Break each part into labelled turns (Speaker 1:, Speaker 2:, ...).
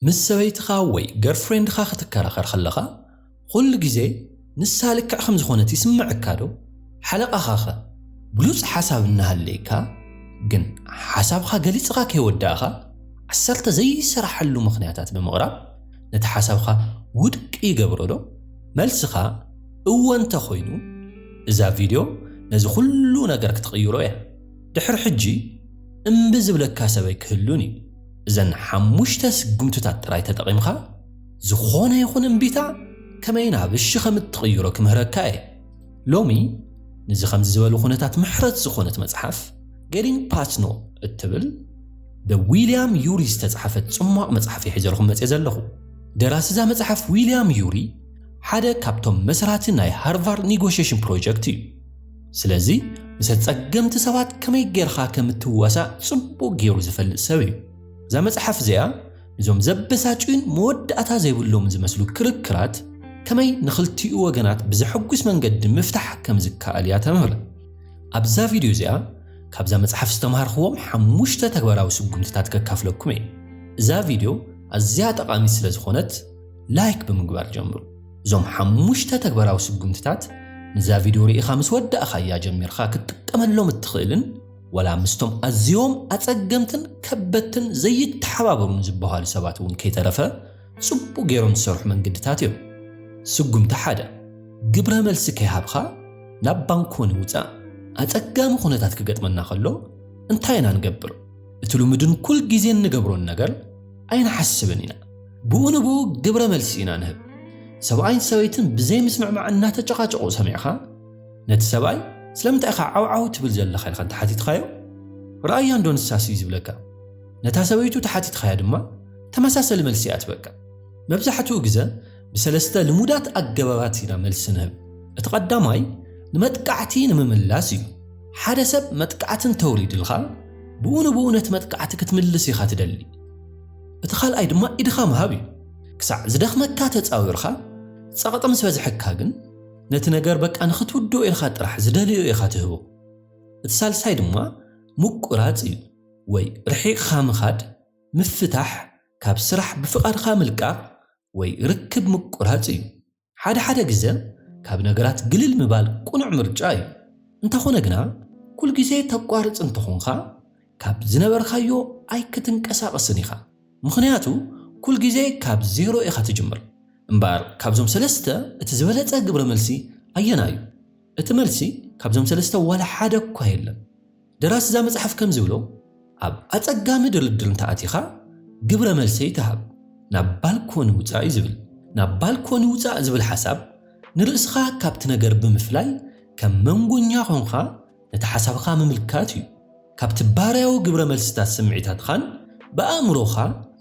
Speaker 1: ምስ ሰበይትኻ ወይ ገርፍሬንድኻ ክትከራኸር ከለኻ ዅሉ ግዜ ንሳ ልክዕ ከም ዝዀነት ይስምዓካዶ? ሓለቓኻኸ ብሉጽ ሓሳብ እናሃለየካ ግን ሓሳብካ ገሊጽኻ ከይወዳእካ ዓሰርተ ዘይሰራሓሉ ምኽንያታት ብምቕራብ ነቲ ሓሳብካ ውድቂ ይገብሮዶ? መልስኻ እወ እንተ ዀይኑ እዛ ቪድዮ ነዚ ዅሉ ነገር ክትቕይሮ እያ። ድሕሪ ሕጂ እምቢ ዝብለካ ሰበይ ክህሉን እዩ። እዘን ሓሙሽተ ስጉምትታት ጥራይ ተጠቒምካ ዝኾነ ይኹን እምቢታ ከመይ ናብ እሺ ከም እትቕይሮ ክምህረካ እየ። ሎሚ ንዚ ከምዚ ዝበሉ ኩነታት ምሕረት ዝኾነት መጽሓፍ ጌቲንግ ፓስ ኖ እትብል ብዊልያም ዩሪ ዝተጻሕፈት ጽሟቕ መጽሓፍ እየ ሒዘልኩም መጽየ ዘለኹ። ደራሲ እዛ መጽሓፍ ዊልያም ዩሪ ሓደ ካብቶም መስራቲ ናይ ሃርቫርድ ኒጎሽሽን ፕሮጀክት እዩ። ስለዚ ምስ ኣጸገምቲ ሰባት ከመይ ጌርኻ ከም እትዋሳእ ጽቡቕ ገይሩ ዝፈልጥ ሰብ እዩ። እዛ መጽሓፍ እዚኣ ንዞም ዘበሳጭዩን መወዳእታ ዘይብሎምን ዝመስሉ ክርክራት ከመይ ንኽልቲኡ ወገናት ብዘሐጉስ መንገዲ ምፍታሕ ከም ዝከኣል እያ ተምህር። ኣብዛ ቪድዮ እዚኣ ካብዛ መጽሓፍ ዝተማሃርክዎም ሓሙሽተ ተግባራዊ ስጉምትታት ከካፍለኩም እየ። እዛ ቪድዮ ኣዝያ ጠቓሚት ስለ ዝኾነት ላይክ ብምግባር ጀምሩ። እዞም ሓሙሽተ ተግባራዊ ስጉምትታት ንዛ ቪድዮ ርኢኻ ምስ ወዳእኻያ ጀሚርካ ክትጥቀመሎም እትኽእልን ወላ ምስቶም ኣዝዮም ኣጸገምትን ከበድትን ዘይተሓባበሩን ዝበሃሉ ሰባት እውን ከይተረፈ ጽቡቕ ገይሮም ዝሰርሑ መንገድታት እዮም። ስጉምቲ ሓደ ግብረ መልሲ ከይሃብካ ናብ ባንኮኒ ውጻእ። ኣጸጋሚ ኩነታት ክገጥመና ከሎ እንታይ ኢና ንገብር? እቲ ልሙድን ኩል ግዜን ንገብሮን ነገር ኣይንሓስብን ኢና። ብኡ ንብኡ ግብረ መልሲ ኢና ንህብ ሰብኣይን ሰበይትን ብዘይ ምስምዕማዕ እናተጨቓጨቑ ሰሚዕኻ ነቲ ሰብኣይ ስለምንታይ ኢኻ ዓውዓው ትብል ዘለኻ ኢልካ እንተሓቲትኻዮ ረኣያ እንዶ ንሳስ እዩ ዝብለካ ነታ ሰበይቱ ተሓቲትኻያ ድማ ተመሳሰሊ መልሲ እያ ትበካ መብዛሕትኡ ግዘ ብሰለስተ ልሙዳት ኣገባባት ኢና መልሲ ንህብ እቲ ቀዳማይ ንመጥቃዕቲ ንምምላስ እዩ ሓደ ሰብ መጥቃዕቲ እንተውሪድልካ ብኡ ንብኡ ነቲ መጥቃዕቲ ክትምልስ ኢኻ ትደሊ እቲ ካልኣይ ድማ ኢድኻ ምሃብ እዩ። ክሳዕ ዝደኽመካ ተጻዊርካ፣ ጸቕጢ ምስ በዝሐካ ግን ነቲ ነገር በቃ ንኽትውድኦ ኢልካ ጥራሕ ዝደለዮ ኢኻ ትህቦ። እቲ ሳልሳይ ድማ ምቁራጽ እዩ ወይ ርሒቕኻ ምኻድ፣ ምፍታሕ፣ ካብ ስራሕ ብፍቓድካ ምልቃቕ ወይ ርክብ ምቁራጽ እዩ። ሓደ ሓደ ግዘ ካብ ነገራት ግልል ምባል ቅኑዕ ምርጫ እዩ። እንተኾነ ግና ኩል ግዜ ተቋርፅ እንተኾንኻ ካብ ዝነበርካዮ ኣይክትንቀሳቀስን ኢኻ ምኽንያቱ ኩል ግዜ ካብ ዜሮ ኢኻ ትጅምር። እምበኣር ካብዞም ሰለስተ እቲ ዝበለፀ ግብረ መልሲ ኣየናይ እዩ? እቲ መልሲ ካብዞም ሰለስተ ዋላ ሓደ እኳ የለን። ደራሲ እዛ መጽሓፍ ከም ዝብሎ፣ ኣብ ኣጸጋሚ ድርድር እንተ ኣቲኻ፣ ግብረ መልሰይ ተሃብ፣ ናብ ባልኮኒ ውጻእ እዩ ዝብል። ናብ ባልኮኒ ውጻእ ዝብል ሓሳብ፣ ንርእስኻ ካብቲ ነገር ብምፍላይ ከም መንጎኛ ኰንካ ነቲ ሓሳብኻ ምምልካት እዩ። ካብቲ ባርያዊ ግብረ መልስታት ስምዒታትኻን ብኣእምሮኻ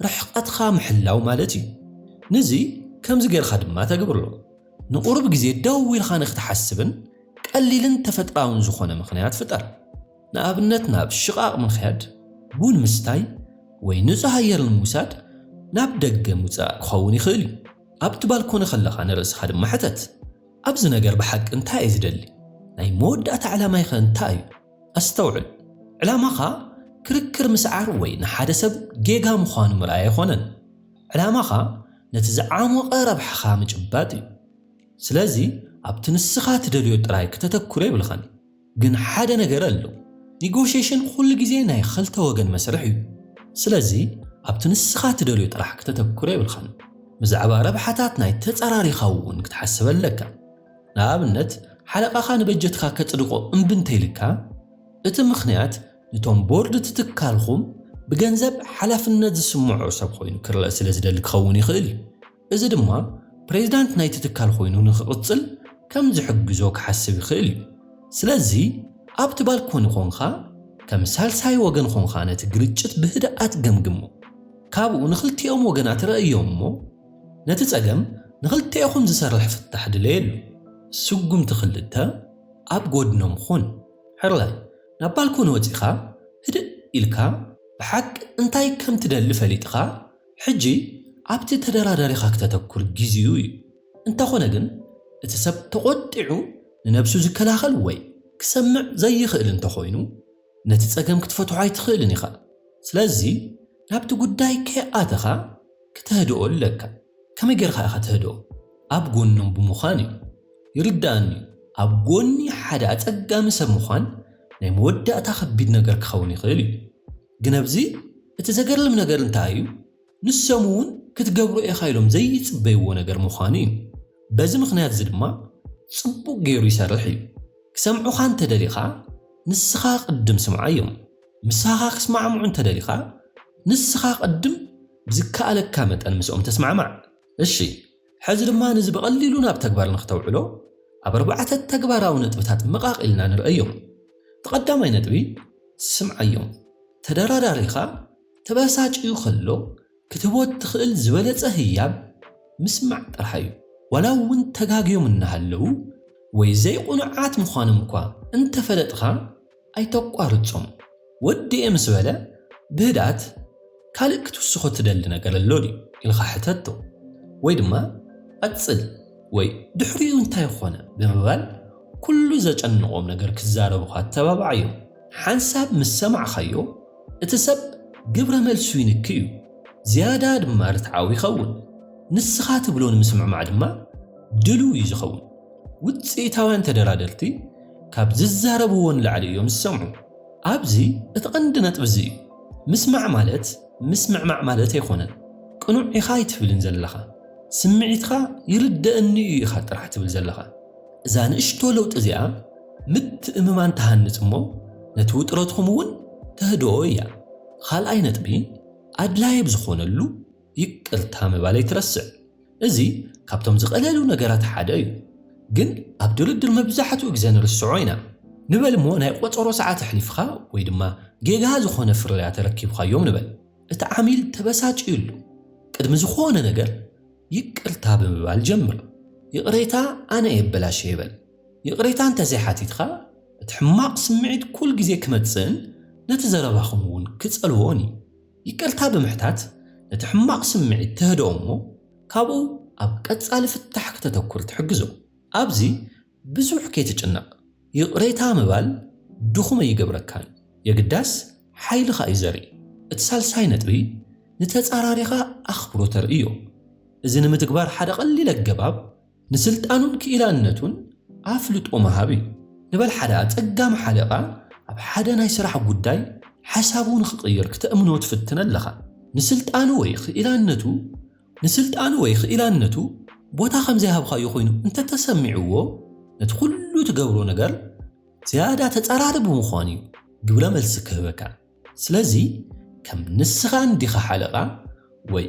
Speaker 1: ርሕቐትካ ምሕላው ማለት እዩ። ንዚ ከምዚ ገይርካ ድማ ተግብሮ፣ ንቑሩብ ግዜ ደው ኢልካ ንኽትሓስብን፣ ቀሊልን ተፈጥራውን ዝኾነ ምኽንያት ፍጠር። ንኣብነት ናብ ሽቓቕ ምኽያድ፣ ቡን ምስታይ ወይ ንጹህ ኣየር ንምውሳድ ናብ ደገ ምውጻእ ክኸውን ይኽእል እዩ። ኣብቲ ባልኮኒ ከለኻ ንርእስኻ ድማ ሕተት፣ ኣብዚ ነገር ብሓቂ እንታይ እየ ዝደሊ? ናይ መወዳእታ ዕላማይከ እንታይ እዩ? ኣስተውዕል፣ ዕላማኻ ክርክር ምስዓር ወይ ንሓደ ሰብ ጌጋ ምዃኑ ምርኣይ ኣይኮነን። ዕላማኻ ነቲ ዝዓሞቐ ረብሓኻ ምጭባጥ እዩ። ስለዚ ኣብቲ ንስኻ ትደልዮ ጥራይ ክተተኩር የብልኻን ግን ሓደ ነገር ኣሎ ኒጎሽየሽን ኩሉ ግዜ ናይ ኽልተ ወገን መስርሕ እዩ ስለዚ ኣብቲ ንስኻ ትደልዮ ጥራሕ ክተተኩር የብልኻን ብዛዕባ ረብሓታት ናይ ተጻራሪኻ እውን ክትሓስብ ኣለካ ንኣብነት ሓለቓኻ ንበጀትካ ከጽድቆ እምቢ እንተይልካ እቲ ምኽንያት ንቶም ቦርድ እቲ ትካልኹም ብገንዘብ ሓላፍነት ዝስምዖ ሰብ ኾይኑ ክረኣ ስለ ዝደሊ ክኸውን ይኽእል እዩ እዚ ድማ ፕሬዝዳንት ናይቲ ትካል ኮይኑ ንኽቕፅል ከም ዝሕግዞ ክሓስብ ይኽእል እዩ። ስለዚ ኣብቲ ባልኮኒ ኮንኻ ከም ሳልሳይ ወገን ኮንኻ ነቲ ግርጭት ብህድኣት ገምግሞ። ካብኡ ንኽልቲኦም ወገናት ረእዮም እሞ ነቲ ፀገም ንኽልቴኹም ዝሰርሕ ፍታሕ ድለየሉ። ስጉምቲ ክልተ፣ ኣብ ጎድኖም ኹን። ሕራይ ናብ ባልኮኒ ወፂእኻ ህድእ ኢልካ ብሓቂ እንታይ ከም ትደሊ ፈሊጥኻ ሕጂ ኣብቲ ተደራዳሪኻ ክተተኩር ጊዚኡ እዩ እንተኾነ ግን እቲ ሰብ ተቆጢዑ ንነብሱ ዝከላኸል ወይ ክሰምዕ ዘይኽእል እንተኾይኑ ነቲ ጸገም ክትፈትሖ ኣይትኽእልን ኢኻ ስለዚ ናብቲ ጉዳይ ከይኣተኻ ክተህድኦ ኣለካ ከመይ ጌርካ ኢኻ ተህድኦ ኣብ ጎኖም ብምዃን እዩ ይርድኣኒ እዩ ኣብ ጎኒ ሓደ ኣጸጋሚ ሰብ ምዃን ናይ መወዳእታ ከቢድ ነገር ክኸውን ይኽእል እዩ። ግን ኣብዚ እቲ ዘገርም ነገር እንታይ እዩ ንሶም እውን ክትገብሮ ኢኻ ኢሎም ዘይጽበይዎ ነገር ምዃኑ እዩ። በዚ ምኽንያት እዚ ድማ ጽቡቕ ገይሩ ይሰርሕ እዩ። ክሰምዑኻ እንተ ደሊኻ ንስኻ ቅድም ስምዓዮም። ምሳኻ ክስማዕምዑ እንተ ደሊኻ ንስኻ ቅድም ብዝከኣለካ መጠን ምስኦም ተስማዕማዕ። እሺ። ሕዚ ድማ ንዚ ብቐሊሉ ናብ ተግባር ንክተውዕሎ ኣብ ኣርባዕተ ተግባራዊ ነጥብታት ምቓቕ ኢልና ንርእዮም። እቲ ቀዳማይ ነጥቢ ስምዓዮም። ተደራዳሪኻ ተበሳጭዩ ከሎ ክትህቦ እትኽእል ዝበለጸ ህያብ ምስማዕ ጥራሕ እዩ። ዋላ እውን ተጋግዮም እናሃለዉ ወይ ዘይቕኑዓት ምዃኖም እኳ እንተፈለጥኻ፣ ኣይተቋርጾም ወዲኤ ምስ በለ ብህድኣት ካልእ ክትውስኾ ትደሊ ነገር ኣሎ ድዩ ኢልካ ሕተቶ ወይ ድማ ቀጽል ወይ ድሕሪኡ እንታይ ኾነ ብምባል ኩሉ ዘጨንቖም ነገር ክዛረቡኻ ኣተባብዓዮም። ሓንሳብ ምስ ሰማዕካዮ እቲ ሰብ ግብረ መልሱ ይንኪ እዩ፣ ዝያዳ ድማ ርትዓዊ ይኸውን። ንስኻ ትብሎ ንምስምዕማዕ ድማ ድሉው እዩ ዝኸውን። ውጽኢታውያን ተደራደርቲ ካብ ዝዛረብዎ ንላዕሊ እዮም ዝሰምዑ። ኣብዚ እቲ ቀንዲ ነጥቢ እዚ እዩ። ምስማዕ ማለት ምስምዕማዕ ማለት ኣይኮነን። ቅኑዕ ኢኻ ኣይትብልን ዘለኻ። ስምዒትካ ይርደእኒ እዩ ኢኻ ጥራሕ ትብል ዘለኻ። እዛ ንእሽቶ ለውጢ እዚኣ ምትእምማን ትሃንጽ እሞ ነቲ ውጥረትኩም እውን ተህድኦ እያ። ኻልኣይ ነጥቢ ኣድላዪ ኣብ ዝኾነሉ፣ ይቅርታ ምባል ኣይትረስዕ እዚ ካብቶም ዝቀለሉ ነገራት ሓደ እዩ ግን ኣብ ድርድር መብዛሕትኡ ግዘ ንርስዖ ኢና ንበል እሞ ናይ ቆፀሮ ሰዓት ኣሕሊፍኻ ወይ ድማ ጌጋ ዝኾነ ፍርያት ኣረኪብኻዮም ንበል እቲ ዓሚል ተበሳጭዩሉ ቅድሚ ዝኾነ ነገር ይቅርታ ብምባል ጀምር ይቅሬታ ኣነ እየ ኣበላሽየ በል ይቅሬታ እንተዘይሓቲትኻ እቲ ሕማቅ ስምዒት ኩልግዜ ክመፅእን ነቲ ዘረባኹም እውን ክፀልዎን እዩ ይቅርታ ብምሕታት ነቲ ሕማቕ ስምዒት ተህድኦ እሞ ካብኡ ኣብ ቀጻሊ ፍታሕ ክተተኩር ትሕግዞ። ኣብዚ ብዙሕ ከይትጭነቕ፣ ይቕሬታ ምባል ድኹም ኣይገብረካን፣ የግዳስ ሓይልኻ እዩ ዘርኢ። እቲ ሳልሳይ ነጥቢ ንተጻራሪኻ ኣኽብሮት ተርእዮ። እዚ ንምትግባር ሓደ ቀሊል ኣገባብ፣ ንስልጣኑን ክኢላነቱን ኣፍልጦ ምሃብ እዩ። ንበል ሓደ ኣጸጋሚ ሓለቓ ኣብ ሓደ ናይ ስራሕ ጉዳይ ሓሳቡ ንኽቕይር ክተእምኖ ትፍትን ኣለኻ። ንስልጣኑ ወይ ክኢላነቱ ንስልጣኑ ወይ ክኢላነቱ ቦታ ከም ዘይሃብካዮ ኮይኑ እንተ ተሰሚዕዎ፣ ነቲ ኩሉ ትገብሮ ነገር ዝያዳ ተጻራሪ ብምዃኑ እዩ ግብረ መልሲ ክህበካ። ስለዚ ከም ንስኻ እንዲኻ ሓለቓ ወይ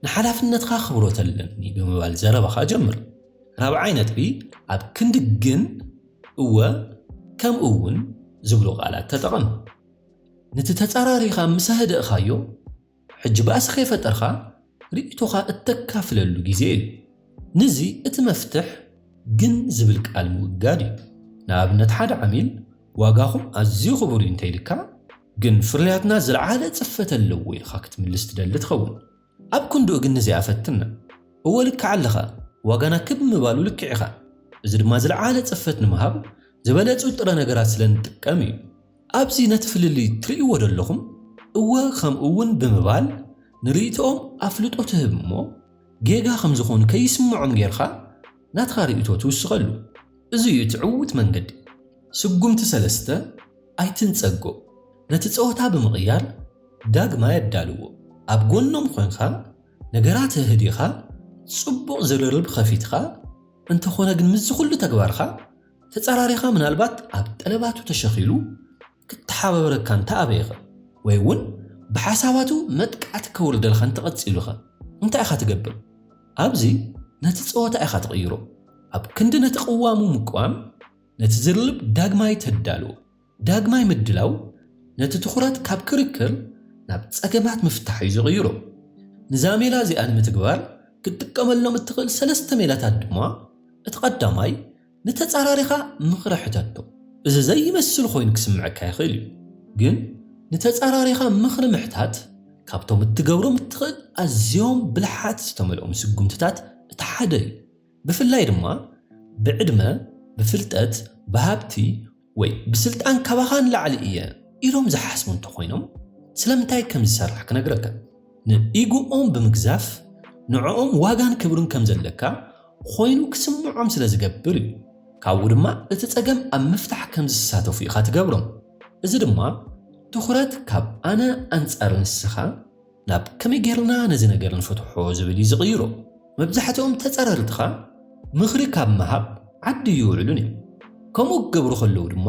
Speaker 1: ንሓላፍነትካ ኣኽብሮት ኣለኒ ብምባል ዘረባኻ ጀምር። ራብዓይ ነጥቢ፣ ኣብ ክንዲ ግን፣ እወ፣ ከምኡውን ዝብሉ ቃላት ተጠቐም። ንቲ ተጻራሪኻ ምስ ኣህደእካዮ፣ ሕጂ ባእሲ ከይፈጠርካ ርእይቶኻ እተካፍለሉ ግዜ እዩ። ንዚ እቲ መፍትሕ ግን ዝብል ቃል ምውጋድ እዩ። ንኣብነት ሓደ ዓሚል ዋጋኹም ኣዝዩ ክቡር እዩ እንተኢሉካ ግን ፍርያትና ዝልዓለ ጽፈት ኣለዎ ኢልካ ክትምልስ ትደሊ ትኸውን። ኣብ ክንድኡ ግን ንዚኣ ፈትና። እወ ልክዕ ኣለኻ፣ ዋጋና ክብ ምባሉ ልክዕ ኢኻ፣ እዚ ድማ ዝልዓለ ጽፈት ንምሃብ ዝበለጹ ጥረ ነገራት ስለ ንጥቀም እዩ። ኣብዚ ነቲ ፍልልይ ትርእይዎ ደለኹም እወ ከምኡ ውን ብምባል ንርእይቶኦም ኣፍልጦ ትህብ እሞ ጌጋ ከም ዝኾኑ ከይስምዖም ጌርኻ ናትኻ ርእይቶ ትውስኸሉ። እዚ እዩ እቲ ዕዉት መንገዲ። ስጉምቲ ሰለስተ፣ ኣይትንጸጎ። ነቲ ጸወታ ብምቕያር ዳግማይ ኣዳልዎ። ኣብ ጎኖም ኮንካ ነገራት ኣህዲኻ ጽቡቕ ዝርርብ ኸፊትኻ እንተኾነ ግን ምስዚ ኩሉ ተግባርካ ተጻራሪኻ ምናልባት ኣብ ጠለባቱ ተሸኺሉ ክተሓባበረካ እንተ ኣበየኸ ወይ እውን ብሓሳባቱ መጥቃዕቲ ከውርደልካ እንተ ቀጺሉኸ እንታይ ኢኻ ትገብር? ኣብዚ ነቲ ጸወታ ኢኻ ትቕይሮ። ኣብ ክንዲ ነቲ ቅዋሙ ምቅዋም ነቲ ዝርልብ ዳግማይ ተዳልዎ። ዳግማይ ምድላው ነቲ ትኹረት ካብ ክርክር ናብ ጸገማት ምፍታሕ እዩ ዝቕይሮ። ንዛ ሜላ እዚኣ ንምትግባር ክትጥቀመሎም እትኽእል ሰለስተ ሜላታት ድማ፣ እቲ ቀዳማይ ንተጻራሪኻ ምኽሪ ሕተቶ። እዚ ዘይመስል ኮይኑ ክስምዐካ ይኽእል እዩ፣ ግን ንተጻራሪኻ ምኽሪ ምሕታት ካብቶም እትገብሮም እትኽእል ኣዝዮም ብልሓት ዝተመልኦም ስጉምትታት እቲ ሓደ እዩ። ብፍላይ ድማ ብዕድመ፣ ብፍልጠት፣ ብሃብቲ፣ ወይ ብስልጣን ካባኻ ንላዕሊ እየ ኢሎም ዝሓስቡ እንተኾይኖም ስለምንታይ ከም ዝሰርሕ ክነግረካ ንኢጎኦም ብምግዛፍ ንዕኦም ዋጋን ክብርን ከም ዘለካ ኾይኑ ክስምዖም ስለ ዝገብር እዩ ካብኡ ድማ እቲ ጸገም ኣብ ምፍታሕ ከም ዝሳተፉ ኢኻ ትገብሮም እዚ ድማ ትኹረት ካብ ኣነ ኣንጻር ንስኻ ናብ ከመይ ጌርና ነዚ ነገር ንፈትሖ ዝብል እዩ ዝቕይሮ። መብዛሕትኦም ተጻረርትኻ ምኽሪ ካብ ምሃብ ዓዲ እይውዕሉን እዮም። ከምኡ ክገብሩ ከለዉ ድማ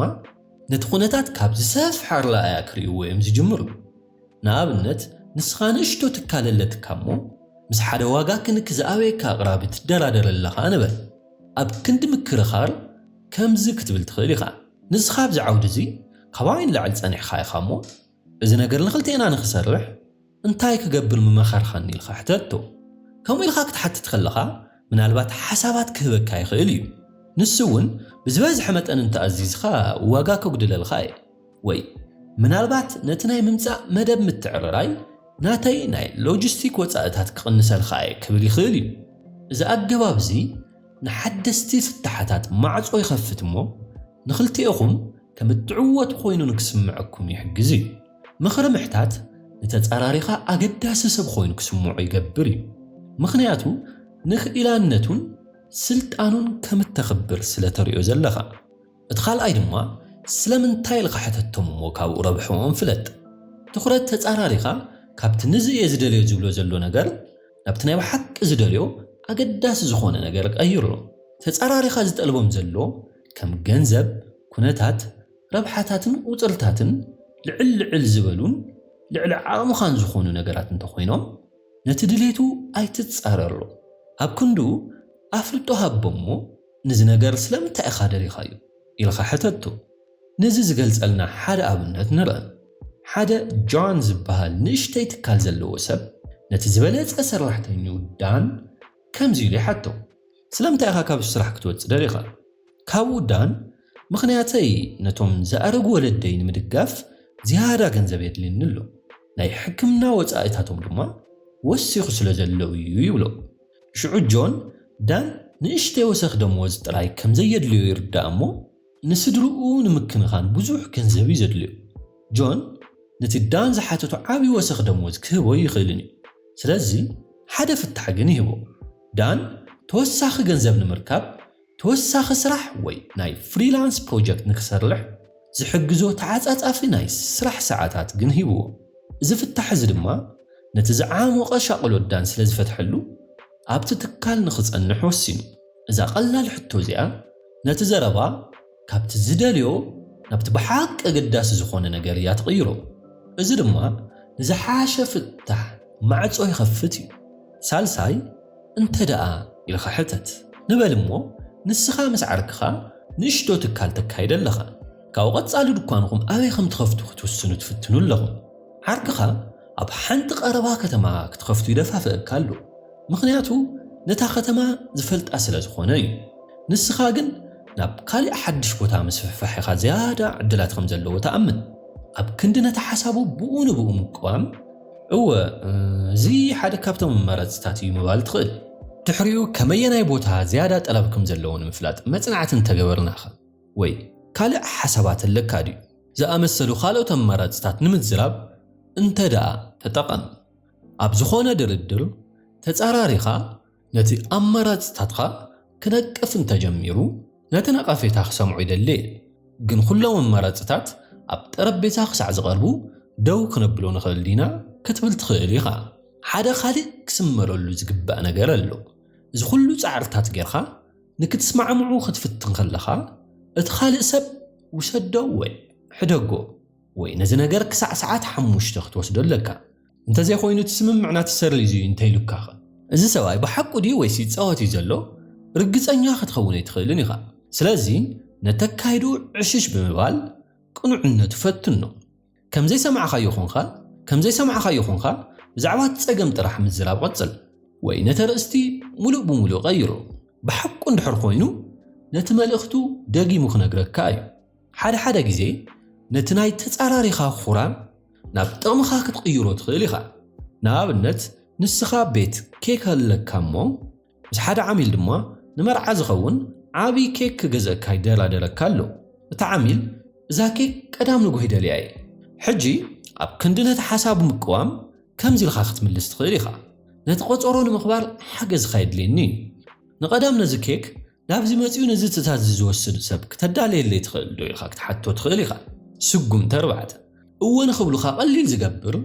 Speaker 1: ነቲ ኩነታት ካብ ዝሰፍሐ ኣረኣእያ ክርእይዎ እዮም ዝጅምሩ። ንኣብነት ንስኻ ንእሽቶ ትካል ኣለትካ እሞ ምስ ሓደ ዋጋ ክንክ ዝኣበየካ ኣቕራቢ ትደራደር ኣለኻ ንበል። ኣብ ክንዲ ምክርኻር ከምዚ ክትብል ትኽእል ኢኻ፣ ንስኻ ኣብዚ ዓውዲ እዚ ካባይ ንላዕሊ ጸኒሕካ ኢኻ እሞ እዚ ነገር ንኽልቴና ንኽሰርሕ እንታይ ክገብር ምመኸርካኒ ኢልካ ሕተቶ። ከምኡ ኢልካ ክትሓትት ከለኻ ምናልባት ሓሳባት ክህበካ ይኽእል እዩ። ንሱ እውን ብዝበዝሐ መጠን እንተኣዚዝካ ዋጋ ከጉድለልካ እየ። ወይ ምናልባት ነቲ ናይ ምምጻእ መደብ ምትዕርራይ ናተይ ናይ ሎጂስቲክ ወጻእታት ክቕንሰልካ እየ ክብል ይኽእል እዩ። እዚ ኣገባብ እዚ ንሓደስቲ ፍታሓታት ማዕጾ ይኸፍት እሞ ንኽልቴኹም ከም እትዕወቱ ኮይኑ ንክስምዐኩም ይሕግዝ እዩ። ምኽሪ ምሕታት ንተጻራሪኻ ኣገዳሲ ሰብ ኮይኑ ክስምዖ ይገብር እዩ፣ ምኽንያቱ ንክኢላነቱን ስልጣኑን ከም እተኽብር ስለ ተርእዮ ዘለኻ። እቲ ካልኣይ ድማ ስለምንታይ ኢልካ ሕተቶም እሞ ካብኡ ረብሕኦም ፍለጥ። ትኹረት ተጻራሪኻ ካብቲ ንዚ እየ ዝደልዮ ዝብሎ ዘሎ ነገር ናብቲ ናይ ብሓቂ ዝደልዮ ኣገዳሲ ዝኾነ ነገር ቀይሮ። ተጻራሪኻ ዝጠልቦም ዘሎ ከም ገንዘብ፣ ኩነታት፣ ረብሓታትን ቁጽርታትን ልዕል ልዕል ዝበሉን ልዕሊ ዓቕምኻን ዝኾኑ ነገራት እንተኾይኖም ነቲ ድሌቱ ኣይትጻረሮ። ኣብ ክንድኡ ኣፍልጦ ሃቦ'ሞ ንዚ ነገር ስለምንታይ ኢኻ ደሊኻዮ? ኢልካ ሕተቶ። ነዚ ዝገልጸልና ሓደ ኣብነት ንርእ። ሓደ ጆን ዝበሃል ንእሽተይ ትካል ዘለዎ ሰብ ነቲ ዝበለጸ ሰራሕተኝኡ ዳን ከምዚ ኢሉ ይሓቶ። ስለምንታይ ኢኻ ካብዚ ስራሕ ክትወጽእ ደሊኻ? ካብ ውዳን፣ ምኽንያተይ ነቶም ዝኣረጉ ወለደይ ንምድጋፍ ዝያዳ ገንዘብ የድልየኒ ኣሎ፣ ናይ ሕክምና ወጻኢታቶም ድማ ወሲኹ ስለ ዘሎ እዩ ይብሎ። ሽዑ ጆን፣ ዳን ንእሽተይ ወሰኽ ደመወዝ ጥራይ ከም ዘየድልዮ ይርዳእ እሞ፣ ንስድርኡ ንምክንኻን ብዙሕ ገንዘብ እዩ ዘድልዮ። ጆን ነቲ ዳን ዝሓተቶ ዓቢ ወሰኽ ደሞዝ ክህቦ ኣይኽእልን እዩ፣ ስለዚ ሓደ ፍታሕ ግን ይህቦ። ዳን ተወሳኺ ገንዘብ ንምርካብ ተወሳኺ ስራሕ ወይ ናይ ፍሪላንስ ፕሮጀክት ንኽሰርሕ ዝሕግዞ ተዓጻጻፊ ናይ ስራሕ ሰዓታት ግን ሂብዎ። እዚ ፍታሕ እዚ ድማ ነቲ ዝዓሞቐ ሻቕሎት ዳን ስለ ዝፈትሐሉ፣ ኣብቲ ትካል ንኽጸንሕ ወሲኑ። እዛ ቀላል ሕቶ እዚኣ ነቲ ዘረባ ካብቲ ዝደልዮ ናብቲ ብሓቂ ኣገዳሲ ዝዀነ ነገር እያ ትቕይሮ፣ እዚ ድማ ንዝሓሸ ፍታሕ ማዕጾ ይኸፍት እዩ። ሳልሳይ፣ እንተድኣ ኢልካ ሕተት። ንበል እሞ ንስኻ ምስ ዓርክኻ ንእሽቶ ትካል ተካይድ ኣለኻ። ካብኡ ቀጻሊ ድኳንኹም ኣበይ ከም ትኸፍቱ ክትውስኑ ትፍትኑ ኣለኹም። ዓርክኻ ኣብ ሓንቲ ቀረባ ከተማ ክትኸፍቱ ይደፋፍኣካ ኣሎ። ምኽንያቱ ነታ ከተማ ዝፈልጣ ስለ ዝኾነ እዩ። ንስኻ ግን ናብ ካልእ ሓድሽ ቦታ ምስፍሕፋሕ ኢኻ ዝያዳ ዕድላት ከም ዘለዎ ትኣምን። ኣብ ክንዲ ነቲ ሓሳቡ ብኡ ንብኡ ምቅዋም፣ እወ፣ እዚ ሓደ ካብቶም መረጽታት እዩ ምባል ትኽእል። ድሕሪኡ ከመየናይ ቦታ ዝያዳ ጠለብ ከም ዘለዎ ንምፍላጥ መጽናዕቲ እንተ ገበርናኸ? ወይ ካልእ ሓሳባት ኣለካ ድዩ? ዝኣመሰሉ ካልኦት ኣማራጽታት ንምዝራብ እንተድኣ ተጠቐም። ኣብ ዝኾነ ድርድር ተጻራሪኻ ነቲ ኣማራጺታትካ ክነቅፍ እንተጀሚሩ ነቲ ነቐፌታ ክሰምዖ ይደሊ እየ፣ ግን ኩሎም ኣማራጺታት ኣብ ጠረጴዛ ክሳዕ ዝቐርቡ ደው ክነብሎ ንኽእል ዲና ክትብል ትኽእል ኢኻ። ሓደ ካልእ ክስመረሉ ዝግባእ ነገር ኣሎ። እዚ ኩሉ ጻዕርታት ጌርካ ንክትስማዕምዑ ክትፍትን ከለኻ እቲ ካልእ ሰብ ውሰዶ ወይ ሕደጎ፣ ወይ ነዚ ነገር ክሳዕ ሰዓት ሓሙሽተ ክትወስዶ ኣለካ፣ እንተዘይኮይኑ እቲ ስምምዕና ትሰርዝ እዩ እንተኢሉካኸ? እዚ ሰብኣይ ብሓቁ ድዩ ወይስ ይጻወት እዩ ዘሎ ርግጸኛ ክትኸውን ኣይትኽእልን ኢኻ። ስለዚ ነተካይድኡ ዕሽሽ ብምባል ቅኑዕነቱ ፈትኖ። ከም ዘይሰማዕካዮ ኰንካ ከም ዘይሰማዕካዮ ኰንካ ብዛዕባ እቲ ጸገም ጥራሕ ምዝራብ ቐጽል። ወይ ነቲ ኣርእስቲ ምሉእ ብምሉእ ቐይሮ። ብሓቁ እንድሕር ኰይኑ ነቲ መልእኽቱ ደጊሙ ክነግረካ እዩ። ሓደ ሓደ ግዜ ነቲ ናይ ተጻራሪኻ ኹራም ናብ ጥቕምኻ ክትቕይሮ ትኽእል ኢኻ። ንኣብነት ንስኻ ቤት ኬክ ኣለካ እሞ ምስ ሓደ ዓሚል ድማ ንመርዓ ዝኸውን ዓቢ ኬክ ክገዝኣካ ይደራደረካ ኣሎ። እቲ ዓሚል እዛ ኬክ ቀዳም ንጉሆ ይደልያ እየ። ሕጂ ኣብ ክንዲ ነቲ ሓሳቡ ምቅዋም ከምዚ ኢልካ ክትምልስ ትኽእል ኢኻ፣ ነቲ ቆጸሮ ንምኽባር ሓገዝካ የድልየኒ እዩ። ንቀዳም ነዚ ኬክ ናብዚ መጺኡ ነዚ ትእዛዝ እዚ ዝወስድ ሰብ ክተዳልየለይ ትኽእል ዶ ኢኻ ክትሓቶ ትኽእል ኢኻ። ስጉምቲ ኣርባዕተ፣ እወ ንኽብሉኻ ቀሊል ዝገብር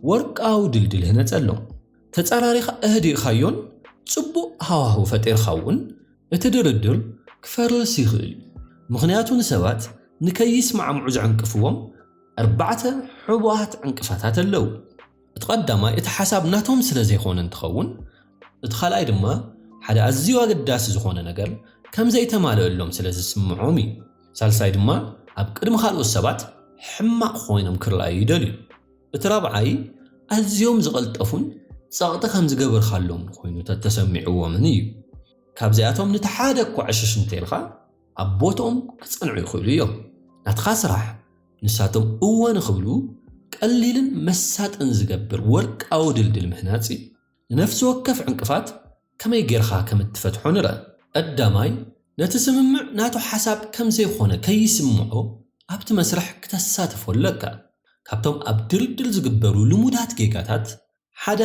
Speaker 1: ወርቃዊ ድልድል ህነጸ ኣሎም። ተጻራሪኻ ኣህዲእካዮን ጽቡቕ ሃዋህው ፈጢርካ እውን እቲ ድርድር ክፈርስ ይኽእል እዩ። ምኽንያቱ ንሰባት ንከይስማዕምዑ ዝዕንቅፍዎም ኣርባዕተ ሕቡኣት ዕንቅፋታት ኣለው። እቲ ቀዳማይ እቲ ሓሳብ ናቶም ስለዘይኮነ እንትኸውን እቲ ካልኣይ ድማ ሓደ ኣዝዩ ኣገዳሲ ዝኾነ ነገር ከምዘይተማለእሎም ስለዝስምዖም እዩ። ሳልሳይ ድማ ኣብ ቅድሚ ካልኦት ሰባት ሕማቕ ኮይኖም ክርኣዩ ይደልዩ። እቲ ራብዓይ ኣዝዮም ዝቐልጠፉን ጸቕጢ ከምዝገበርካሎምን ኮይኑ ተተሰሚዕዎምን እዩ። ካብዚኣቶም ንቲ ሓደ እኳ ዕሽሽ እንተኢልካ ኣብ ቦትኦም ክጸንዑ ይኽእሉ እዮም። ናትኻ ስራሕ ንሳቶም እወ ንኽብሉ ቀሊልን መሳጥን ዝገብር ወርቃዊ ድልድል ምህናጽ እዩ። ንነፍሲ ወከፍ ዕንቅፋት ከመይ ጌርኻ ከም እትፈትሖ ንርኣ። ቀዳማይ፣ ነቲ ስምምዕ ናቱ ሓሳብ ከም ዘይኰነ ከይስምዖ ኣብቲ መስርሕ ክተሳትፎ ኣለካ። ካብቶም ኣብ ድልድል ዝግበሩ ልሙዳት ጌጋታት ሓደ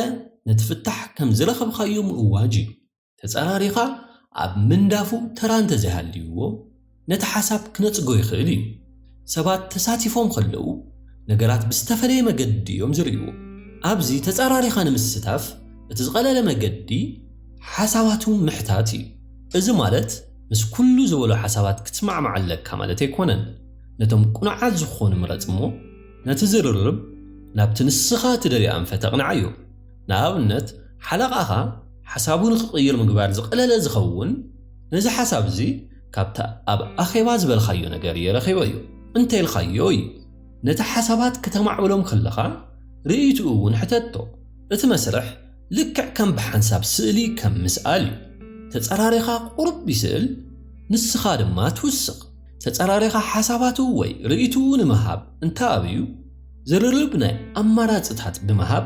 Speaker 1: ነቲ ፍታሕ ከም ዝረኸብካዮ ምእዋጅ እዩ። ተጸራሪኻ ኣብ ምንዳፉ ተራ እንተዘይሃልይዎ፣ ነቲ ሓሳብ ክነጽጎ ይኽእል እዩ። ሰባት ተሳቲፎም ከለዉ፣ ነገራት ብዝተፈለየ መገዲ እዮም ዝርእይዎ። ኣብዚ ተጸራሪኻ ንምስታፍ እቲ ዝቐለለ መገዲ ሓሳባቱ ምሕታት እዩ። እዚ ማለት ምስ ኩሉ ዝበሎ ሓሳባት ክትስማዕማዕ ኣለካ ማለት ኣይኮነን። ነቶም ቅኑዓት ዝኾኑ ምረጽ እሞ ነቲ ዝርርብ ናብቲ ንስኻ ትደልዮ ኣንፈት ኣቕንዓዮ። ንኣብነት ሓለቓኻ ሓሳቡ ንኽቕይር ምግባር ዝቐለለ ዝኸውን ነዚ ሓሳብ እዚ ካብቲ ኣብ ኣኼባ ዝበልካዮ ነገር እየ ረኺበዮ እንተኢልካዮ እዩ። ነቲ ሓሳባት ክተማዕብሎም ከለኻ ርእይትኡ እውን ሕተቶ። እቲ መስርሕ ልክዕ ከም ብሓንሳብ ስእሊ ከም ምስኣል እዩ። ተጸራሪኻ ቁሩብ ይስእል ንስኻ ድማ ትውስኽ። ተጸራሪኻ ሓሳባቱ ወይ ርእይትኡ ንምሃብ እንተኣብዩ፣ ዝርርብ ናይ ኣማራፅታት ብምሃብ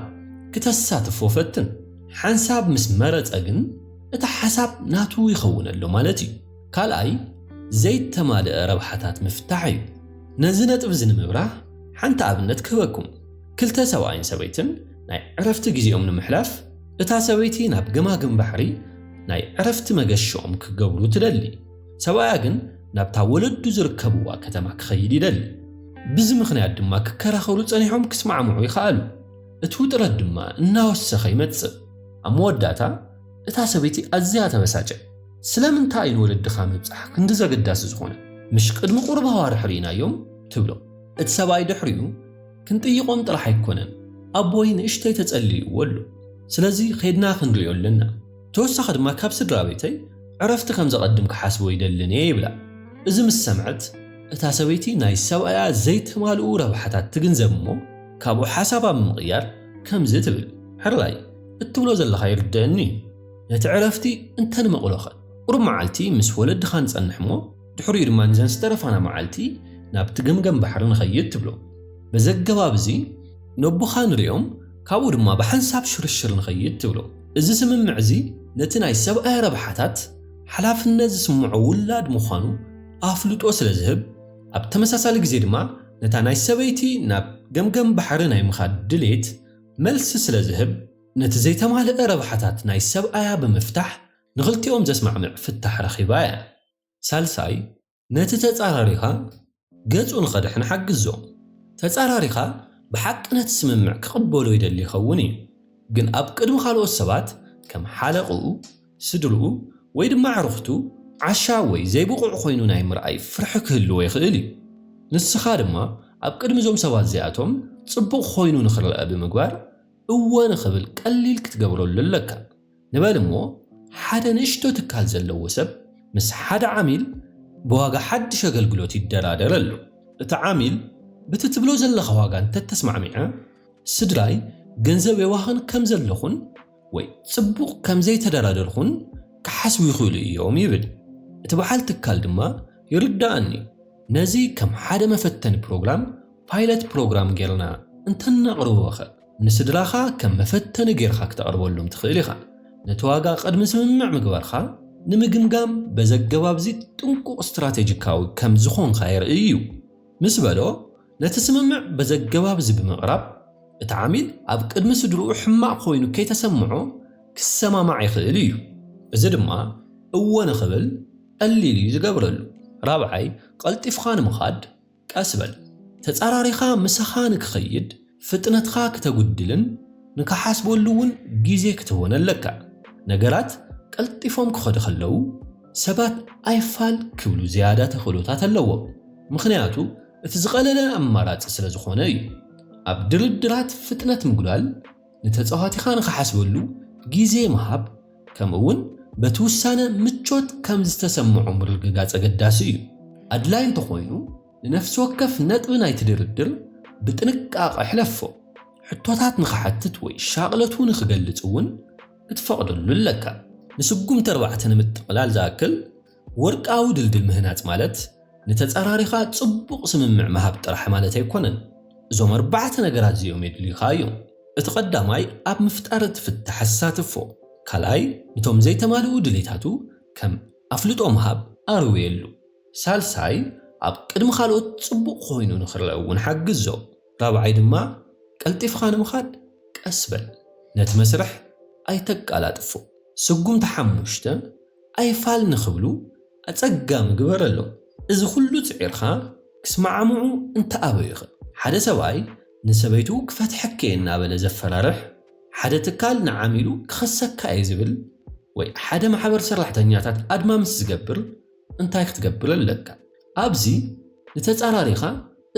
Speaker 1: ክተሳትፎ ፈትን። ሓንሳብ ምስ መረፀ ግን እቲ ሓሳብ ናቱ ይኸውነሉ ማለት እዩ። ካልኣይ ዘይተማልእ ረብሓታት ምፍታሕ እዩ። ነዚ ነጥቢ እዚ ንምብራህ ሓንቲ ኣብነት ክህበኩም። ክልተ ሰብኣይን ሰበይትን ናይ ዕረፍቲ ግዜኦም ንምሕላፍ እታ ሰበይቲ ናብ ገማግም ባሕሪ ናይ ዕረፍቲ መገሽኦም ክገብሩ ትደሊ። ሰብኣያ ግን ናብታ ወለዱ ዝርከብዋ ከተማ ክኸይድ ይደሊ። ብዚ ምኽንያት ድማ ክከራኸሩ ጸኒሖም ክስማዕምዑ ይኸኣሉ። እቲ ውጥረት ድማ እናወሰኸ ይመጽእ። ኣብ መወዳእታ እታ ሰበይቲ ኣዝያ ተበሳጨ። ስለምንታይ እዩ ንወለድኻ ምብጻሕ ክንድዚ ኣገዳሲ ዝኾነ? ምሽ ቅድሚ ቁሩብ ኣዋርሕ ርኢናዮም? ትብሎ። እቲ ሰብኣይ ድሕሪኡ ክንጥይቖም ጥራሕ ኣይኮነን ኣቦይ ንእሽተይ ተጸልይዎ ኣሎ። ስለዚ ኼድና ክንርእዮ ኣለና። ተወሳኺ ድማ ካብ ስድራቤተይ ዕረፍቲ ከም ዘቐድም ክሓስቦ ኣይደልን እየ ይብላ። እዚ ምስ ሰምዐት እታ ሰበይቲ ናይ ሰብኣያ ዘይተማልኡ ረብሓታት ትግንዘብ እሞ ካብኡ ሓሳባ ብምቕያር ከምዚ ትብል፣ ሕራይ እትብሎ ዘለኻ ይርደኣኒ እዩ፣ ነቲ ዕረፍቲ እንተንመቕሎኸ? ቁሩብ መዓልቲ ምስ ወለድኻ ንጸንሕ እሞ፣ ድሕሪኡ ድማ ነዘን ዝተረፋና መዓልቲ ናብቲ ገምገም ባሕሪ ንኸይድ ትብሎ። በዚ ኣገባብ እዚ ነቦኻ ንርእዮም ካብኡ ድማ ብሓንሳብ ሽርሽር ንኸይድ ትብሎ። እዚ ስምምዕ እዚ ነቲ ናይ ሰብኣያ ረብሓታት ሓላፍነት ዝስምዖ ውላድ ምዃኑ ኣፍልጦ ስለ ዝህብ፣ ኣብ ተመሳሳሊ ግዜ ድማ ነታ ናይ ሰበይቲ ናብ ገምገም ባሕሪ ናይ ምኻድ ድሌት መልሲ ስለ ዝህብ፣ ነቲ ዘይተማልአ ረብሓታት ናይ ሰብኣያ ብምፍታሕ ንኽልቲኦም ዘስማዕምዕ ፍታሕ ረኺባ እያ። ሳልሳይ፣ ነቲ ተጻራሪኻ ገጹ ንኸድሕን ሓግዞ። ተጻራሪኻ ብሓቂ ነቲ ስምምዕ ክቕበሎ ይደሊ ይኸውን እዩ፣ ግን ኣብ ቅድሚ ካልኦት ሰባት፣ ከም ሓለቕኡ፣ ስድርኡ፣ ወይ ድማ ኣዕሩኽቱ፣ ዓሻ ወይ ዘይብቑዕ ኰይኑ ናይ ምርኣይ ፍርሒ ክህልዎ ይኽእል እዩ። ንስኻ ድማ ኣብ ቅድሚ እዞም ሰባት እዚኣቶም ጽቡቕ ዀይኑ ንኽረኣ ብምግባር እወ ንኽብል ቀሊል ክትገብረሉ ኣለካ። ንበል እሞ ሓደ ንእሽቶ ትካል ዘለዎ ሰብ ምስ ሓደ ዓሚል ብዋጋ ሓድሽ ኣገልግሎት ይደራደር ኣሎ። እቲ ዓሚል ብቲ ትብሎ ዘለኻ ዋጋ እንተተስማዕሚዐ ስድራይ ገንዘብ የባኽን ከምዘለኹን ወይ ጽቡቕ ከምዘይተደራደርኹን ክሓስቡ ይኽእሉ እዮም ይብል። እቲ በዓል ትካል ድማ ይርደኣኒ ነዚ ከም ሓደ መፈተኒ ፕሮግራም፣ ፓይለት ፕሮግራም፣ ጌርና እንተነቕርቦኸ? ንስድራኻ ከም መፈተኒ ገይርካ ክተቕርበሎም ትኽእል ኢኻ። ነቲ ዋጋ ቅድሚ ስምምዕ ምግባርካ ንምግምጋም በዚ ኣገባብ'ዚ ጥንቁቕ ስትራተጂካዊ ከም ዝኾንካ የርኢ እዩ ምስ በሎ፣ ነቲ ስምምዕ በዚ ኣገባብ'ዚ ብምቕራብ እቲ ዓሚል ኣብ ቅድሚ ስድርኡ ሕማቕ ኮይኑ ከይተሰምዖ ክሰማማዕ ይኽእል እዩ። እዚ ድማ እወ ንኽብል ቀሊል እዩ ዝገብረሉ። ራብዓይ፣ ቀልጢፍካ ንምኻድ። ቀስ በል። ተጻራሪኻ ምሳኻ ንክኸይድ ፍጥነትካ ክተጉድልን ንክሓስበሉ እውን ግዜ ክትህቦን ኣለካ። ነገራት ቀልጢፎም ክኸዱ ከለዉ ሰባት ኣይፋል ክብሉ ዝያዳ ተኽእሎታት ኣለዎም፣ ምኽንያቱ እቲ ዝቐለለ ኣማራጺ ስለዝኾነ እዩ። ኣብ ድርድራት ፍጥነት ምጉዳል፣ ንተጻዋቲኻ ንኽሓስበሉ ግዜ ምሃብ ከምኡ'ውን በቲ ውሳነ ምቾት ከም ዝተሰምዖ ምርግጋጽ ኣገዳሲ እዩ። ኣድላዪ እንተኾይኑ፣ ንነፍሲ ወከፍ ነጥቢ ናይቲ ድርድር ብጥንቃቐ ሕለፎ። ሕቶታት ንኽሓትት ወይ ሻቕለቱ ንኽገልጽ እውን ክትፈቕደሉ ኣለካ። ንስጉምቲ ኣርባዕተ ንምጥቕላል ዝኣክል፣ ወርቃዊ ድልድል ምህናጽ ማለት ንተጻራሪኻ ጽቡቕ ስምምዕ ምሃብ ጥራሕ ማለት ኣይኮነን። እዞም ኣርባዕተ ነገራት እዚኦም የድልዩኻ እዮም። እቲ ቀዳማይ ኣብ ምፍጣር እቲ ፍታሕ ኣሳትፎ። ካልኣይ ንቶም ዘይተማልኡ ድሌታቱ ከም ኣፍልጦ ምሃብ ኣርውየሉ። ሳልሳይ ኣብ ቅድሚ ካልኦት ጽቡቕ ኮይኑ ንክርኣ እውን ሓግዞ። ራብዓይ ድማ ቀልጢፍኻ ንምኻድ ቀስ በል። ነቲ መስርሕ ኣይተቃላጥፎ። ስጉምቲ ሓሙሽተ። ኣይፋል ንኽብሉ ኣጸጋሚ ግበረሎም። እዚ ኹሉ ጽዒርካ ክስማዓምዑ እንተኣበዩኸ? ሓደ ሰብኣይ ንሰበይቱ ክፈትሐኪ'የ እናበለ ዘፈራርሕ፣ ሓደ ትካል ንዓሚሉ ክኸሰካ'የ ዝብል ወይ ሓደ ማሕበር ሰራሕተኛታት ኣድማ ምስ ዝገብር እንታይ ክትገብር ኣለካ? ኣብዚ ንተጻራሪኻ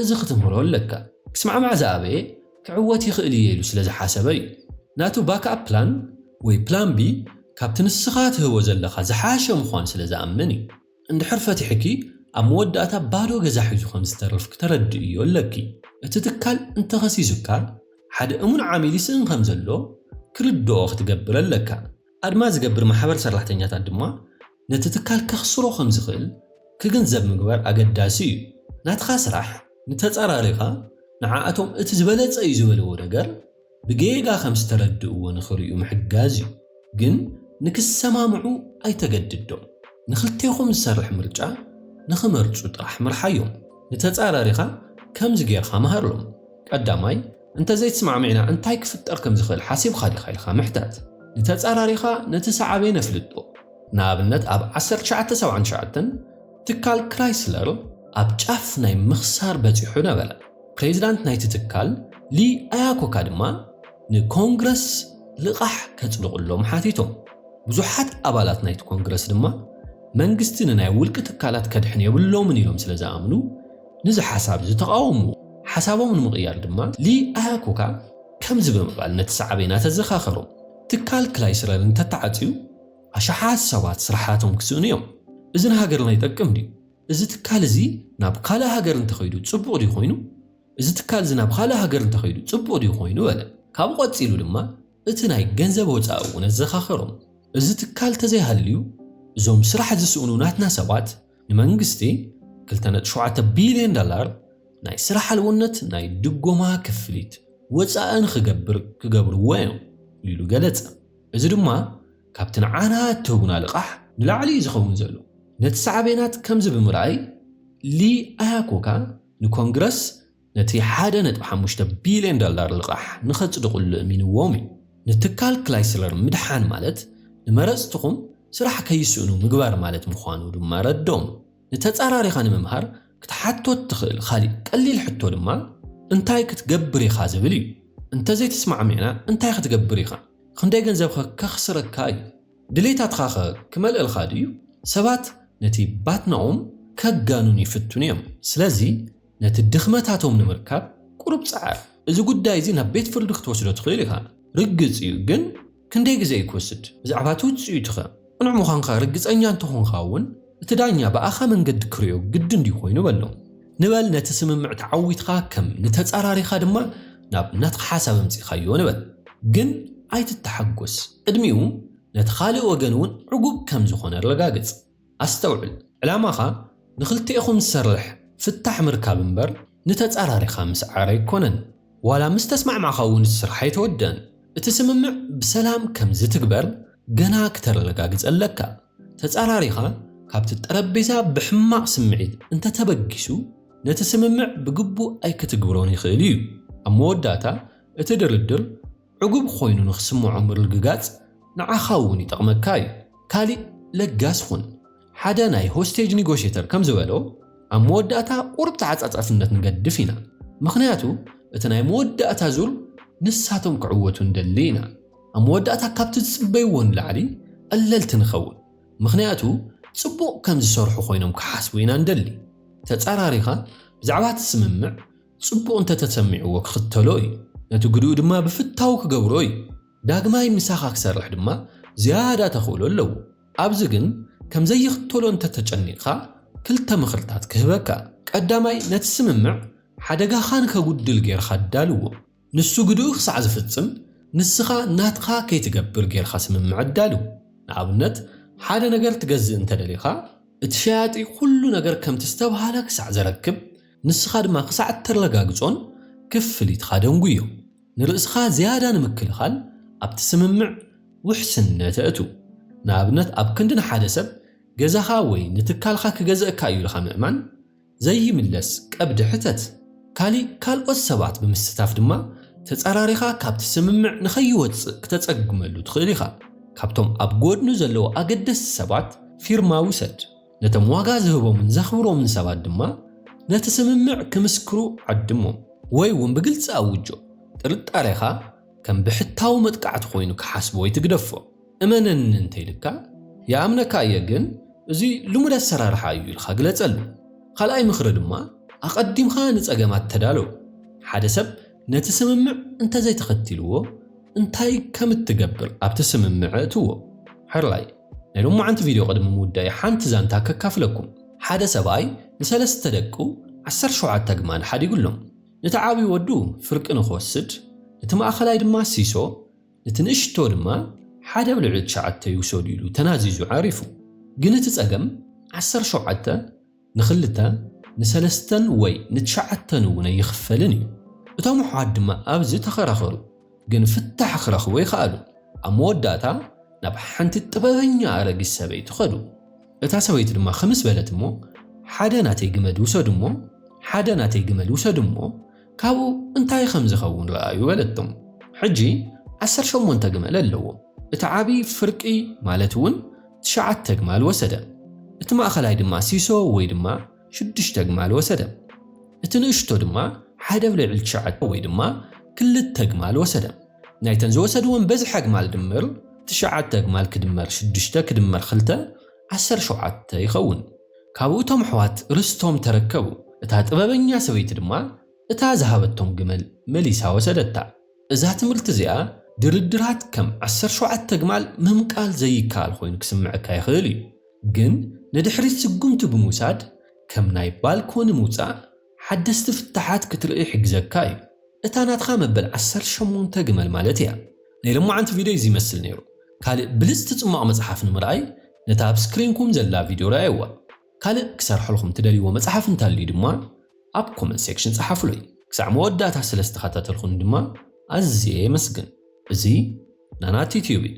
Speaker 1: እዚ ክትምህሮ ኣለካ። ክስማዕማዕ ዝኣበየ ክዕወት ይኽእል እየ ኢሉ ስለ ዝሓሰበ እዩ። ናቱ ባክኣፕ ፕላን ወይ ፕላን ቢ ካብቲ ንስኻ ትህቦ ዘለኻ ዝሓሸ ምዃኑ ስለ ዝኣምን እዩ። እንድሕር ፈቲሕኪ ኣብ መወዳእታ ባዶ ገዛ ሒዙ ከም ዝተርፍ ክተረድእዮ ኣለኪ። እቲ ትካል እንተኸሲሱካ ሓደ እሙን ዓሚል ይስእን ከም ዘሎ ክርድኦ ክትገብር ኣለካ። ኣድማ ዝገብር ማሕበር ሰራሕተኛታት ድማ ነቲ ትካል ከኽስሮ ከም ዝኽእል ክግንዘብ ምግባር ኣገዳሲ እዩ። ናትኻ ስራሕ ንተጻራሪኻ ንዓኣቶም እቲ ዝበለጸ እዩ ዝበልዎ ነገር ብጌጋ ከም ዝተረድእዎ ንኽርእዩ ምሕጋዝ እዩ። ግን ንክሰማምዑ ኣይተገድዶም። ንኽልቴኹም ዝሰርሕ ምርጫ ንኽመርጹ ጥራሕ ምርሓዮም። ንተጻራሪኻ ከምዚ ጌርካ ምሃርሎም፣ ቀዳማይ፣ እንተ ዘይትስማዕሚዕና እንታይ ክፍጠር ከም ዝኽእል ሓሲብኻ ዲኻ ኢልካ ምሕታት። ንተጻራሪኻ ነቲ ሰዓቤ ነፍልጦ። ንኣብነት ኣብ ዓሰርተ ትሽዓተ ሰብዓን ትሽዓተን ትካል ክራይስለር ኣብ ጫፍ ናይ ምኽሳር በጺሑ ነበረ። ፕሬዚዳንት ናይቲ ትካል ሊ ኣያኮካ ድማ ንኮንግረስ ልቓሕ ከጽድቕሎም ሓቲቶም። ብዙሓት ኣባላት ናይቲ ኮንግረስ ድማ መንግስቲ ንናይ ውልቂ ትካላት ከድሕን የብሎምን ኢሎም ስለ ዝኣምኑ፣ ነዚ ሓሳብ ዝተቓወምዎ ሓሳቦም ንምቕያር ድማ ሊኣያኩካ ከምዚ ብምባል ነቲ ሳዕቤናት ኣዘኻኸሮም፣ ትካል ክላይስረር እንተተዓጽዩ ኣሽሓት ሰባት ስራሓቶም ክስእኑ እዮም። እዚ ንሃገርና ይጠቅም ድዩ? እዚ ትካል እዚ ናብ ካልእ ሃገር እንተኸይዱ ጽቡቕ ድዩ ኮይኑ? እዚ ትካል እዚ ናብ ካልእ ሃገር እንተኸይዱ ጽቡቕ ድዩ ኮይኑ? በለ። ካብኡ ቀጺሉ ድማ እቲ ናይ ገንዘብ ወፃኢ እውን ኣዘኻኸሮም። እዚ ትካል ተዘይሃልዩ እዞም ስራሕ ዝስእኑ ናትና ሰባት ንመንግስቲ ክልተ ነጥቢ ሸውዓተ ቢሊየን ዳላር ናይ ስራሕ ኣልቦነት ናይ ድጎማ ክፍሊት ወፃኢ ንክገብር ክገብርዎ እዮም ኢሉ ገለፀ። እዚ ድማ ካብቲ ንዓና እትህቡና ልቓሕ ንላዕሊ እዩ ዝኸውን ዘሎ። ነቲ ሳዕቤናት ከምዚ ብምርኣይ ሊ ኣያኮካ ንኮንግረስ ነቲ ሓደ ነጥቢ ሓሙሽተ ቢልዮን ዶላር ልቓሕ ንኸጽድቕሉ እሚንዎም እዩ። ንትካል ክላይስለር ምድሓን ማለት ንመረጽትኹም ስራሕ ከይስእኑ ምግባር ማለት ምዃኑ ድማ ኣረድኦም። ንተጻራሪኻ ንምምሃር ክትሓቶ እትኽእል ኻሊእ ቀሊል ሕቶ ድማ እንታይ ክትገብር ኢኻ ዝብል እዩ። እንተ ዘይተስማዕሚዕና እንታይ ኽትገብር ኢኻ? ኽንደይ ገንዘብኸ ከኽስረካ እዩ? ድሌታትኻኸ ክመልእልካ ድዩ? ሰባት ነቲ ባትናኦም ከጋንኑ ይፍትኑ እዮም። ስለዚ፣ ነቲ ድኽመታቶም ንምርካብ ቁሩብ ጸዓር። እዚ ጉዳይ እዚ ናብ ቤት ፍርዲ ክትወስዶ ትኽእል ኢኻ። ርግጽ እዩ፣ ግን ክንደይ ግዜ እዩ ክወስድ? ብዛዕባ እቲ ውጽኢቱኸ? ቅኑዕ ምዃንካ ርግጸኛ እንተ ኾንካ እውን እቲ ዳኛ ብኣኻ መንገዲ ክርእዮ ግድን ድዩ ኮይኑ? በሎ። ንበል ነቲ ስምምዕ ተዓዊትካ ከም ንተጻራሪኻ ድማ ናብ ናትካ ሓሳብ ኣምጺእካዮ ንበል። ግን ኣይትተሓጎስ። ቅድሚኡ ነቲ ካልእ ወገን እውን ዕጉብ ከም ዝኾነ ኣረጋግጽ። ኣስተውዕል ዕላማኻ ንኽልቴኹም ዝሰርሕ ፍታሕ ምርካብ እምበር ንተጻራሪኻ ምስዓር ኣይኮነን። ዋላ ምስ ተስማዕማዕካ እውን እቲ ስራሕ ኣይተወደኣን። እቲ ስምምዕ ብሰላም ከም ዝትግበር ገና ክተረጋግጽ ኣለካ። ተጻራሪኻ ካብቲ ጠረጴዛ ብሕማቕ ስምዒት እንተ ተበጊሱ ነቲ ስምምዕ ብግቡእ ኣይክትግብሮን ይኽእል እዩ። ኣብ መወዳእታ እቲ ድርድር ዕጉብ ኾይኑ ንኽስምዖ ምርግጋጽ ንዓኻ እውን ይጠቕመካ እዩ። ካሊእ ለጋስ ኹን። ሓደ ናይ ሆስቴጅ ኒጎሼተር ከም ዝበሎ ኣብ መወዳእታ ቁሩብ ተዓጻጻፍነት ንገድፍ ኢና። ምኽንያቱ እቲ ናይ መወዳእታ ዙር ንሳቶም ክዕወቱ ንደሊ ኢና። ኣብ መወዳእታ ካብቲ ዝጽበይዎ ንላዕሊ ቐለልቲ ንኸውን። ምኽንያቱ ጽቡቕ ከም ዝሰርሑ ኾይኖም ክሓስቡ ኢና ንደሊ። ተጻራሪኻ ብዛዕባ እቲ ስምምዕ ጽቡቕ እንተ ተሰሚዕዎ ክኽተሎ እዩ፣ ነቲ ግደኡ ድማ ብፍታው ክገብሮ እዩ። ዳግማይ ምሳኻ ክሰርሕ ድማ ዝያዳ ተኽእሎ ኣለዎ። ኣብዚ ግን ከም ዘይኽተሎ እንተ ተጨኒቕካ፣ ክልተ ምኽርታት ክህበካ። ቀዳማይ፣ ነቲ ስምምዕ ሓደጋኻ ንከጉድል ጌርካ ኣዳልዎ። ንሱ ግድኡ ክሳዕ ዝፍጽም ንስኻ ናትኻ ከይትገብር ጌርካ ስምምዕ ኣዳልው። ንኣብነት ሓደ ነገር ትገዝእ እንተ ደሊኻ እቲ ሸያጢ ኩሉ ነገር ከምቲ ዝተብሃለ ክሳዕ ዘረክብ ንስኻ ድማ ክሳዕ እተረጋግጾን ክፍሊትካ ደንጉዮ። ንርእስኻ ዝያዳ ንምክልኻል ኣብቲ ስምምዕ ውሕስነት ኣእቱ። ንኣብነት ኣብ ክንዲ ንሓደ ሰብ ገዛኻ ወይ ንትካልካ ክገዝኣካ እዩ ኢልካ ምእማን፣ ዘይምለስ ቀብዲ ሕተት ካሊእ ካልኦት ሰባት ብምስታፍ ድማ ተፃራሪኻ ካብቲ ስምምዕ ንከይወፅእ ክተፀግመሉ ትኽእል ኢኻ። ካብቶም ኣብ ጎድኑ ዘለዉ ኣገደስቲ ሰባት ፊርማ ውሰድ። ነቶም ዋጋ ዝህቦምን ዘኽብሮምን ሰባት ድማ ነቲ ስምምዕ ክምስክሩ ዓድሞም። ወይ እውን ብግልፂ ኣውጆ። ጥርጣሬኻ ከም ብሕታዊ መጥቃዕቲ ኮይኑ ክሓስቦ ኣይትግደፎ። እመነኒ እንተ ኢሉካ ይኣምነካ እየ ግን እዚ ልሙድ ኣሰራርሓ እዩ ኢልካ ግለጸሉ። ካልኣይ ምኽሪ ድማ ኣቐዲምካ ንጸገማት ተዳሎ። ሓደ ሰብ ነቲ ስምምዕ እንተ ዘይተኸቲልዎ እንታይ ከም እትገብር ኣብቲ ስምምዕ እእትዎ። ሕርላይ፣ ናይ ሎማዓንቲ ቪድዮ ቅድሚ ምውዳይ ሓንቲ ዛንታ ከካፍለኩም። ሓደ ሰብኣይ ንሰለስተ ደቁ ዓሰርተ ሸውዓተ ኣግማል ሓዲጉሎም። ነቲ ዓብዩ ወዱ ፍርቂ ንክወስድ ነቲ ማእኸላይ ድማ ሲሶ፣ እቲ ንእሽቶ ድማ ሓደ ኣብ ልዕሊ ትሽዓተ ይውሰዱ ኢሉ ተናዚዙ ዓሪፉ። ግን እቲ ጸገም ዓሰርተ ሸውዓተ ንኽልተ፣ ንሰለስተን ወይ ንትሽዓተን እውን ኣይኽፈልን እዩ። እቶም ኣሕዋት ድማ ኣብዚ ተኸራኸሩ፣ ግን ፍታሕ ክረኽቡ ኣይኸኣሉን። ኣብ መወዳእታ ናብ ሓንቲ ጥበበኛ ኣረጊት ሰበይቲ ከዱ። እታ ሰበይቲ ድማ ኽምስ በለት እሞ ሓደ ናተይ ግመድ ውሰዱ እሞ ሓደ ናተይ ግመል ውሰዱ እሞ ካብኡ እንታይ ኸም ዚኸውን ርኣዩ በለቶም። ሕጂ ዓሰርተ ሸሞንተ ግመል ኣለዎ። እቲ ዓብዪ ፍርቂ ማለት እውን ትሽዓተ ኣግማል ወሰደ፣ እቲ ማእከላይ ድማ ሲሶ ወይ ድማ ሽዱሽተ ኣግማል ወሰደ፣ እቲ ንእሽቶ ድማ ሓደ ኣብ ልዕሊ ትሽዓተ ወይ ድማ ክልተ ኣግማል ወሰደ። ናይተን ዝወሰድወን በዝሒ ኣግማል ድምር ትሽዓተ ኣግማል ክድመር ሽዱሽተ ክድመር ክልተ ዓሰርተ ሸውዓተ ይኸውን። ካብኡ እቶም ኣሕዋት ርስቶም ተረከቡ። እታ ጥበበኛ ሰበይቲ ድማ እታ ዝሃበቶም ግመል መሊሳ ወሰደታ። እዛ ትምህርቲ እዚኣ ድርድራት ከም ዓሰርተ ሸውዓተ ግማል ምምቃል ዘይከኣል ኮይኑ ክስምዐካ ይኽእል እዩ፣ ግን ንድሕሪት ስጉምቲ ብምውሳድ ከም ናይ ባልኮኒ ምውጻእ ሓደስቲ ፍታሓት ክትርኢ ይሕግዘካ እዩ። እታ ናትካ መበል ዓሰርተ ሸሞንተ ግመል ማለት እያ። ናይ ለሞዓንቲ ቪድዮይ እዚ ይመስል ነይሩ። ካልእ ብልጽቲ ጽሟቕ መጽሓፍ ንምርኣይ ነታ ኣብ ስክሪንኩም ዘላ ቪድዮ ርኣይዋ። ካልእ ክሰርሐልኩም ትደልይዎ መጽሓፍ እንተልዩ ድማ ኣብ ኮመንት ሴክሽን ጸሓፉለይ። ክሳዕ መወዳእታ ስለ ዝተኸታተልኩኒ ድማ ኣዝየ የመስግን። እዚ ናና ቲዩትዩብ እዩ።